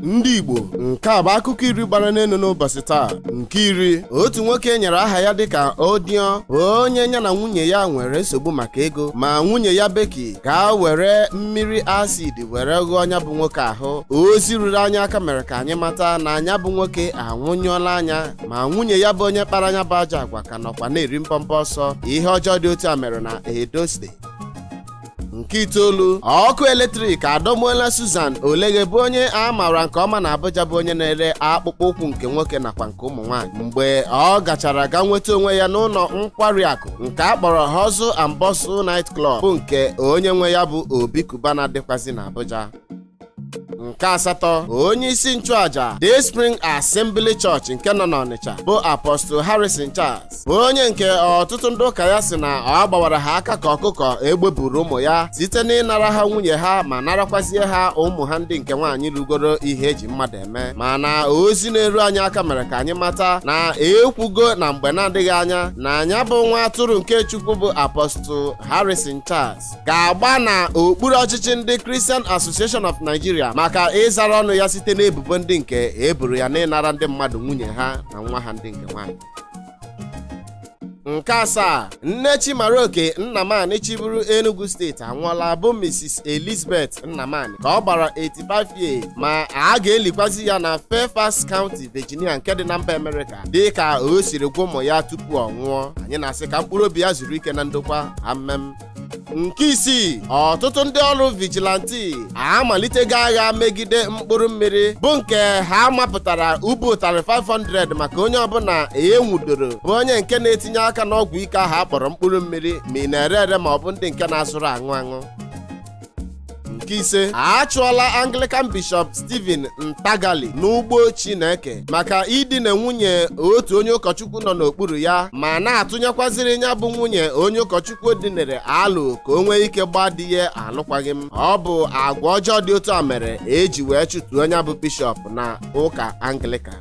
ndị igbo nke a bụ akụkọ iri gbara n'elu n'ụbọchị taa nke iri otu nwoke e nyere aha ya dịka odion bụ onye ya na nwunye ya nwere nsogbu maka ego ma nwunye ya becky ga were mmiri acid were ghụọ nya bụ nwoke ahụ ozi ruru anyị aka mere ka anyị mata na nya bụ nwoke anwụnyụọla anya ma nwunye ya bụ onye kpara nya bụ ajọ agwa ka nọkwa na-eri mbọmbọ ọsọ ihe ọjọọ dị otu a mere na edo steeti nke itoolu ọkụ eletrik adọgbuola Susan Oleghe bụ onye a maara nke ọma na Abuja bụ onye na-ere akpụkpọ ụkwụ nke nwoke nakwa nke ụmụ nwaanyị mgbe ọ gachara ga nweta onwe ya n'ụlọ nkwari akụ nke a kpọrọ Hustle and Bustle Night Club bụ nke onye nwe ya bụ Obi Cubana dịkwazi na Abuja nke asatọ onye isi nchụaja Day Spring Assembly Church nke nọ n'Ọnịcha bụ Apostle Harrison Charles bụ onye nke ọtụtụ ndị ụka ya si na ọ gbawara ha aka ka ọkụkọ egbe buuru ụmụ ya site n'ịnara ha nwunye ha ma narakwazie ha ụmụ ha ndị nke nwaanyị rugoro ihe eji mmadụ eme mana ozi na-eru anyị aka mere ka anyị mata na ekwugo na mgbe na-adịghị anya na nya bụ nwa atụrụ nke Chukwu bụ Apostle Harrison Charles ga-agba na okpuru ọchịchị ndị Christian Association of Nigeria maka ịzara ọnụ ya site n'ebubo ndị nke eboro ya n'ịnara ndị mmadụ nwunye ha na nwa ha ndị nke nwaanyị nke asaa nne chimaroke nnamani chịburu enugu steeti anwụọla bụ mrs elizabeth nnamani ka ọ gbara 85 years ma a ga-elikwazi ya na fairfax county virginia nke dị na mba amerịka dị ka o siri gwa ụmụ ya tupu ọ nwụọ anyị na-asị ka mkpụrụ obi ya zuru ike na ndokwa amen nke isii ọtụtụ ndị ọrụ vigilanti amalitego agha megide mkpụrụ mmiri bụ nke ha mapụtara ubu ụtarị 500 maka onye ọbụla enwudoro bụ onye nke na-etinye aka n'ọgwụ ike ahụ akpọrọ mkpụrụ mmiri ma ị na-ere ere ma ọ bụ ndị nke na-azụrụ aṅụ aṅụ nke ise a chụọla anglican bishọp stephen ntagali n'ugbo chineke maka idina nwunye otu onye ụkọchukwu nọ n'okpuru ya ma na-atụnyekwaziri ya bụ nwunye onye ụkọchukwu dinere alo ka o nwee ike gbaa di ya alụkwaghị m ọ bụ agwa ọjọọ dị otu a mere eji wee chụtuo ya bụ bishọp na ụka anglican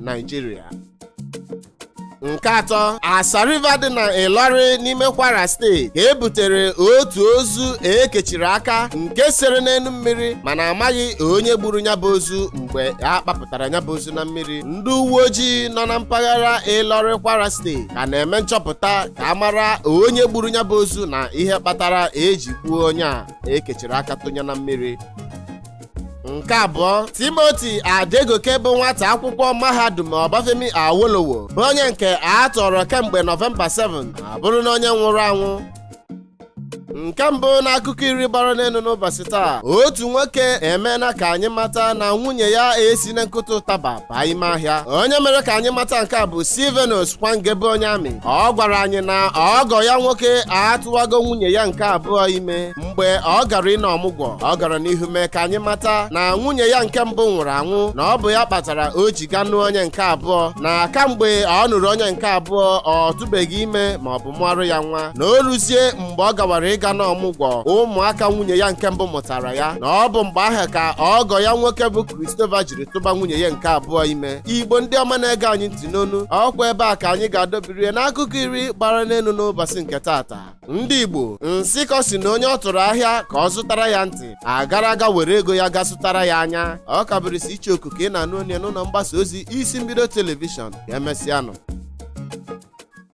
Nigeria nke atọ Asa River dị na Ilorin n'ime Kwara steeti ka e butere otu ozu ekechiri aka nke sere n'elu mmiri mana amaghị onye gburu ya bụ ozu mgbe a kpapụtara ya bụ ozu na mmiri ndị uwe ojii nọ na mpaghara Ilorin Kwara steeti ka na-eme nchọpụta ka a mara onye gburu ya bụ ozu na ihe kpatara eji gbuo onye a ekechiri aka tụnye na mmiri nke abụọ timothy adegoke bụ nwata akwụkwọ mahadum ọbafemi awolowo bụ onye nke a tọrọ kemgbe nọvemba 7 abụrụna onye nwụrụ anwụ nke mbụ n'akụkọ iri gbara n'elu n'ụbọchị taa otu nwoke emeela ka anyị mata na nwunye ya esi na nkụta ụtaba baa ime ahịa onye mere ka anyị mata nke a bụ silvanus kwange bụ onye amị ọ gwara anyị na ọgọ ya nwoke atụwago nwunye ya nke abụọ ime mgbe ọ gara ịna ọmụgwọ ọ gara n'ihu mee ka anyị mata na nwunye ya nke mbụ nwụrụ anwụ na ọ bụ ya kpatara o ji ga nụọ onye nke abụọ na kamgbe ọ nụrụ onye nke abụọ ọ tụbeghị ime ma ọ bụ mụarụ ya nwa na o ruzie mgbe ọ gawara ịga n'ọmụgwọ ụmụaka nwunye ya nke mbụ mụtara ya na ọ bụ mgbe ahụ ka ọgọ ya nwoke bụ christopher jiri tụba nwunye ya nke abụọ ime igbo ndị ọma na-ege anyị ntị nnọọnụ ọ kwa ebe a ka anyị ga-adọbiri ya n'akụkọ iri gbara n'elu n'ụbọchị nke taata ndị igbo nsịkọ sị na onye ọ tụrụ ahịa ka ọ zụtara ya ntị agara aga were ego ya ga zụtara ya anya ọ ka bụrịsị icheoku ka ị na-anụ onu ya n'ụnọ mgbasa ozi isi mbido telivishọn ka emesịanụ